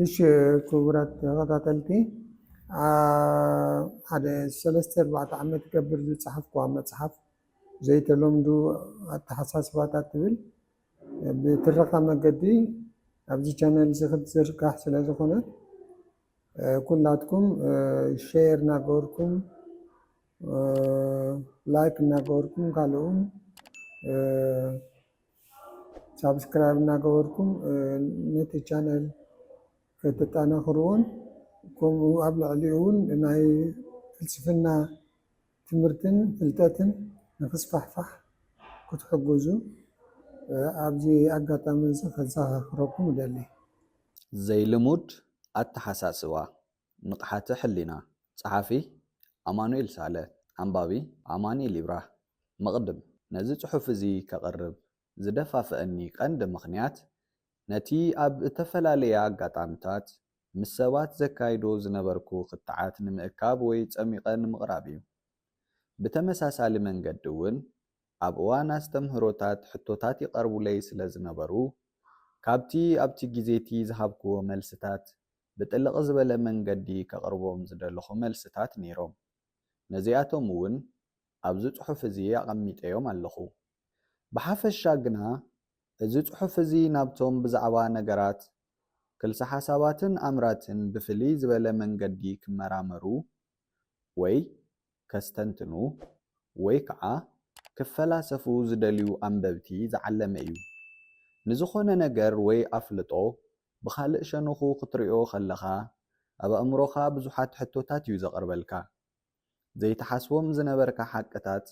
እሺ ክቡራት ተኸታተልቲ ሓደ ሰለስተ ኣርባዕተ ዓመት ገብር ዝፀሓፍኩዋ መፅሓፍ ዘይተለምዱ ኣተሓሳስባታት ትብል ብትረኻ መገዲ ኣብዚ ቻነል እዚ ክትዝርጋሕ ስለ ዝኾነ ኩላትኩም ሸር ናገበርኩም ላይክ ናገበርኩም ካልእውን ሳብስክራይብ ናገበርኩም ነቲ ቻነል ከተጣናኽርዎን ከምኡ ኣብ ልዕሊኡ እውን ናይ ፍልስፍና ትምህርትን ፍልጠትን ንክስፋሕፋሕ ክትሕግዙ ኣብዚ ኣጋጣሚ እዚ ከዘኻኽረኩም እደሊ። ዘይልሙድ ኣተሓሳስባ፣ ንቕሓተ ሕሊና፣ ጸሓፊ፣ ኣማኑኤል ሳለ፣ ኣንባቢ፣ ኣማኒኤል ይብራህ፣ መቕድም፣ ነዚ ጽሑፍ እዚ ከቕርብ ዝደፋፍኣኒ ቀንዲ ምኽንያት፣ ነቲ ኣብ እተፈላለየ ኣጋጣምታት ምስ ሰባት ዘካይዶ ዝነበርኩ ክትዓት ንምእካብ ወይ ጸሚቐ ንምቕራብ እዩ። ብተመሳሳሊ መንገዲ እውን፣ ኣብ እዋን ኣስተምህሮታት ሕቶታት ይቐርቡለይ ስለ ዝነበሩ፣ ካብቲ ኣብቲ ግዜ'ቲ ዝሃብክዎ መልስታት ብጥልቕ ዝበለ መንገዲ ከቕርቦም ዝደለኹ መልስታት ነይሮም። ነዚኣቶም'ውን ኣብዚ ጽሑፍ እዚ ኣቐሚጠዮም ኣለኹ። ብሓፈሻ ግና እዚ ጽሑፍ እዚ ናብቶም ብዛዕባ ነገራት፣ ክልሰ-ሓሳባትን ኣምራትን ብፍልይ ዝበለ መንገዲ ክመራመሩ ወይ ከስተንትኑ ወይ ከዓ ክፈላሰፉ ዝደልዩ ኣንበብቲ ዝዓለመ እዩ። ንዝኾነ ነገር ወይ ኣፍልጦ ብኻልእ ሸንኹ ክትሪኦ ከለኻ ኣብ ኣእምሮኻ ብዙሓት ሕቶታት እዩ ዘቕርበልካ። ዘይትሓስቦም ዝነበርካ ሓቅታት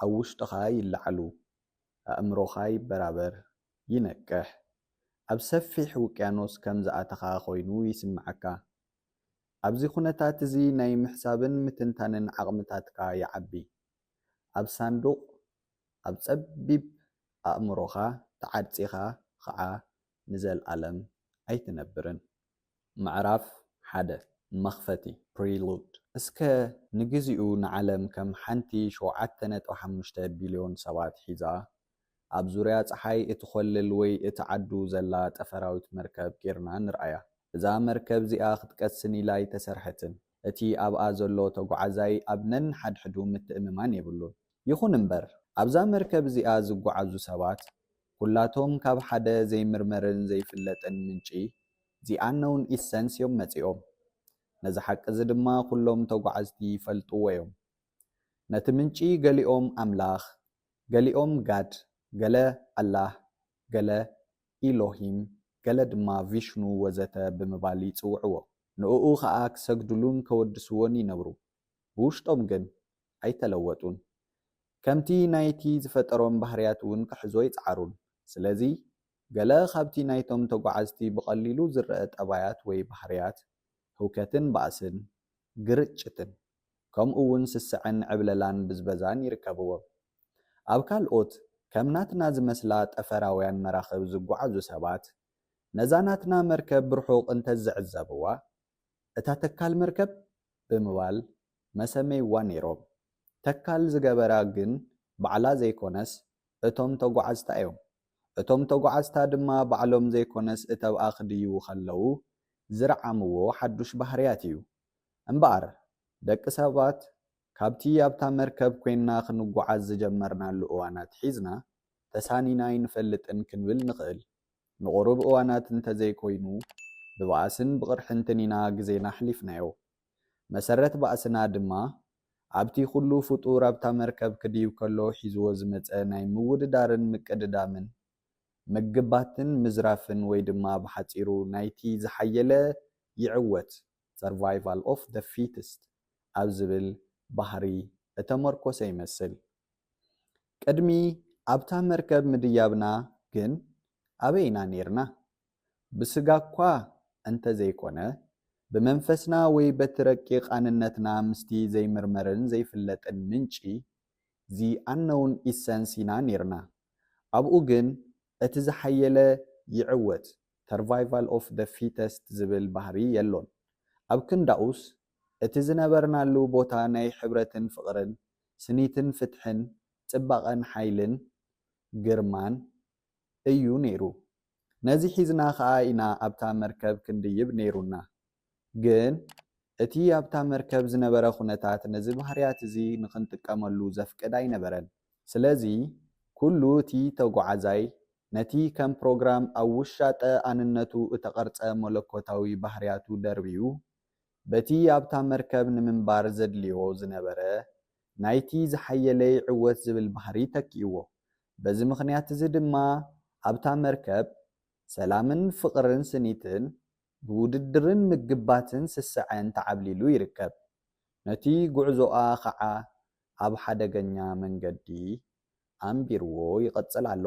ኣብ ውሽጥኻ ይለዓሉ፣ ኣእምሮኻ ይበራበር፣ ይነቅሕ፣ ኣብ ሰፊሕ ውቅያኖስ ከም ዝኣተኻ ኮይኑ ይስመዓካ። ኣብዚ ኩነታት እዚ ናይ ምሕሳብን ምትንታንን ዓቕምታትካ ይዓቢ። ኣብ ሳንዱቕ ኣብ ጸቢብ ኣእምሮኻ ተዓጺኻ ኸኣ ንዘልኣለም ኣይትነብርን። ምዕራፍ ሓደ፣ መኽፈቲ፣ Prelude። እስከ ንግዚኡ ንዓለም ከም ሓንቲ ሸውዓተ ነጥቢ ሓሙሽተ ቢልዮን ሰባት ሒዛ ኣብ ዙርያ ጸሓይ እትኾልል ወይ እትዓዱ ዘላ ጠፈራዊት መርከብ ጌርና ንርኣያ። እዛ መርከብ እዚኣ ክትቀስን ኢላ ኣይተሰርሐትን። እቲ ኣብኣ ዘሎ ተጓዓዛይ ኣብ ነንሓድሕዱ ምትእምማን የብሉን። ይኹን እምበር፣ ኣብዛ መርከብ እዚኣ ዝጓዓዙ ሰባት ኩላቶም ካብ ሓደ ዘይምርመርን ዘይፍለጥን ምንጪ፣ The Unknown Essence፣ እዮም መጺኦም። ነዚ ሓቂ እዚ ድማ ኩሎም ተጓዓዝቲ ይፈልጥዎ እዮም። ነቲ ምንጪ ገሊኦም ኣምላኽ፣ ገሊኦም ጋድ፣ ገለ ኣላህ፣ ገለ ኢሎሂም፣ ገለ ድማ ቪሽኑ ወዘተ ብምባል ይጽውዕዎ። ንእኡ ከኣ ክሰግድሉን ከወድስዎን ይነብሩ። ብውሽጦም ግን ኣይተለወጡን። ከምቲ ናይቲ ዝፈጠሮም ባህርያት እውን ክሕዙ ኣይጸዓሩን። ስለዚ ገለ ካብቲ ናይቶም ተጓዓዝቲ ብቐሊሉ ዝረኣ ጠባያት ወይ ባህርያት፣ ህውከትን ባእስን፣ ግርጭትን፣ ከምኡ ውን ስስዐን ዕብለላን ብዝበዛን ይርከብዎም። ኣብ ካልኦት ከም ናትና ዝመስላ ጠፈራውያን መራኽብ ዝጓዓዙ ሰባት፣ ነዛ ናትና መርከብ ብርሑቕ እንተዝዕዘብዋ፣ እታ ተካል መርከብ ብምባል መሰመይዋ ነይሮም። ተካል ዝገበራ ግን ባዕላ ዘይኮነስ እቶም ተጓዓዝታ እዮም። እቶም ተጓዓዝታ ድማ ባዕሎም ዘይኮነስ እተብኣ ክድይቡ ከለዉ ዝርዓምዎ ሓዱሽ ባህርያት እዩ። እምበኣር፣ ደቂ ሰባት ካብቲ ኣብታ መርከብ ኰይንና ኽንጐዓዝ ዝጀመርናሉ እዋን ኣትሒዝና፣ ተሳኒና ኣይንፈልጥን ክንብል ንኽእል። ንቝሩብ እዋናት እንተ ዘይኰይኑ፣ ብባእስን ብቕርሕንትን ኢና ግዜና ኣሕሊፍናዮ። መሰረት ባእስና ድማ፣ ኣብቲ ዅሉ ፍጡር ኣብታ መርከብ ክድይብ ከሎ ሒዝዎ ዝመጸ ናይ ምውድዳርን ምቅድዳምን ምግባትን ምዝራፍን ወይ ድማ ብሓጺሩ ናይቲ ዝሓየለ ይዕወት፣ Survival of the Fittest፣ ኣብ ዝብል ባህሪ እተመርኮሰ ይመስል። ቅድሚ ኣብታ መርከብ ምድያብና ግን ኣበይ ኢና ኔርና? ብስጋ'ኳ እንተ ዘይኮነ፣ ብመንፈስና ወይ በቲ ረቂቕ ኣንነትና ምስቲ ዘይምርመርን ዘይፍለጥን ምንጪ፣ The Unknown Essence፣ ኢና ኔርና። ኣብኡ ግን እቲ ዝሓየለ ይዕወት፣ Survival of the Fittest፣ ዝብል ባህሪ የሎን። ኣብ ክንዳኡስ፣ እቲ ዝነበርናሉ ቦታ ናይ ሕብረትን ፍቕርን፣ ስኒትን ፍትሕን፣ ጽባቐን ሓይልን ግርማን እዩ ነይሩ። ነዚ ሒዝና ከኣ ኢና ኣብታ መርከብ ክንድይብ ነይሩና። ግን እቲ ኣብታ መርከብ ዝነበረ ኩነታት ነዚ ባህርያት እዚ ንኽንጥቀመሉ ዘፍቅድ ኣይነበረን። ስለዚ ኩሉ እቲ ተጓዓዛይ ነቲ ከም ፕሮግራም ኣብ ውሻጠ ኣንነቱ እተቐርጸ መለኮታዊ ባህርያቱ ደርብዩ በቲ ኣብታ መርከብ ንምንባር ዘድልዮ ዝነበረ ናይቲ ዝሓየለ ይዕወት ዝብል ባህሪ ተኪእዎ። በዚ ምኽንያት እዚ ድማ ኣብታ መርከብ ሰላምን ፍቕርን ስኒትን ብውድድርን ምግባትን ስስዐን ተዓብሊሉ ይርከብ። ነቲ ጉዕዞኣ ኸዓ ኣብ ሓደገኛ መንገዲ ኣንቢርዎ ይቕጽል ኣሎ።